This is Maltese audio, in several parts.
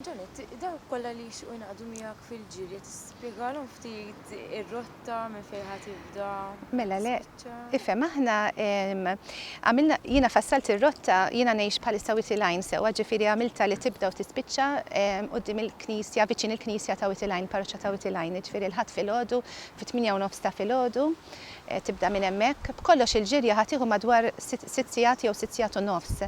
Janet, dawk kollha li jixtiequ jingħaqdu miegħek fil-ġirja tista' tispjegalhom ftit ir-rotta, minn fejn ħa tibda, fejn ħa tispiċċa? Mela le, ifhem, aħna għamilna, jiena fassalt ir-rotta, jiena ngħix bħalissa Whittle Line sewwa, ġifieri għamiltha li tibda u tispiċċa quddiem il-knisja, viċin il-knisja ta' Whittle Line, parroċċa ta' Whittle Line, jiġifieri l-Ħadd filgħodu fit-tmienja u nofs ta' filgħodu tibda minn hemmhekk. B'kollox il-ġirja ħa tieħu madwar sitt sigħat jew sitt sigħat u nofs.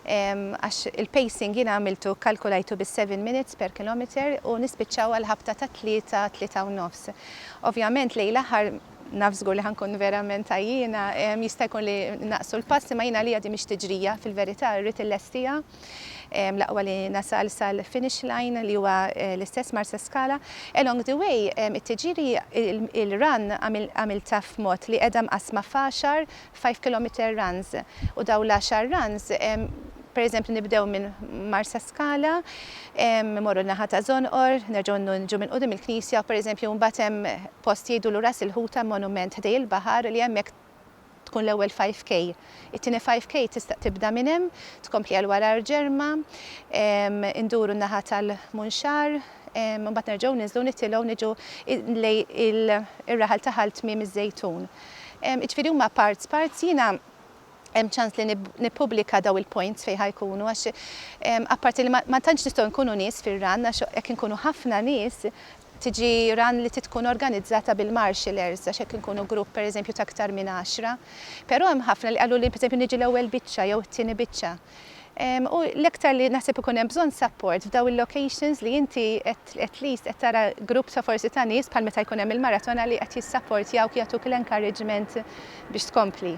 għax il-pacing jiena għamiltu kkalkulajtu bis-seven minutes per kilometer u nispiċċaw għall-ħabta tat-tlieta, tlieta u nofs. Ovvjament lejn l-aħħar naf żgur li ħa nkun verament għajjiena, jista' jkun li naqsu l-pass imma jien għalija din mhix tiġrija fil-verità rrid illestiha l-aqwa li nasal sal-finish line li huwa l-istess Marsaskala. Along the way it-tiġiri, il-run għamiltha f'mod li qiegħda mqassma f'għaxar five kilometer runs u dawn l-għaxar runs pereżempju nibdew minn Marsaskala, imorru n-naħa ta' Żonqor, nerġgħu niġu minn quddiem il-knisja u pereżempju mbagħad hemm post jgħidulu Ras il-Ħuta monument ħdej il-baħar li hemmhekk tkun l-ewwel five K. It-tieni five K tista' tibda minn hemm, tkompli għal wara Arġerma, induru n-naħa tal-Munxar, imbagħad nerġgħu ninżlu nitilgħu niġu lejn ir-raħal ta' Ħal Tmiem iż-Żejtun. Jiġifieri huma parts parts, jiena hemm ċans li nippubblika dawn il-points fejn ħa jkunu għax apparti li ma tantx nistgħu nkunu nies fir-run għax jekk inkunu ħafna nies tiġi run li trid tkun organizzata bil-marshallers għax jekk inkunu grupp pereżempju ta' aktar minn għaxra. Però hemm ħafna li qaluli pereżempju niġi l-ewwel biċċa jew it-tieni biċċa. U l-iktar li naħseb ikun hemm bżonn support f'dawn il-locations li inti at least qed tara grupp ta' forsi ta' nies bħal meta jkun hemm il-maratona li qed jissapportjawk jagħtuk l-encouragement biex tkompli.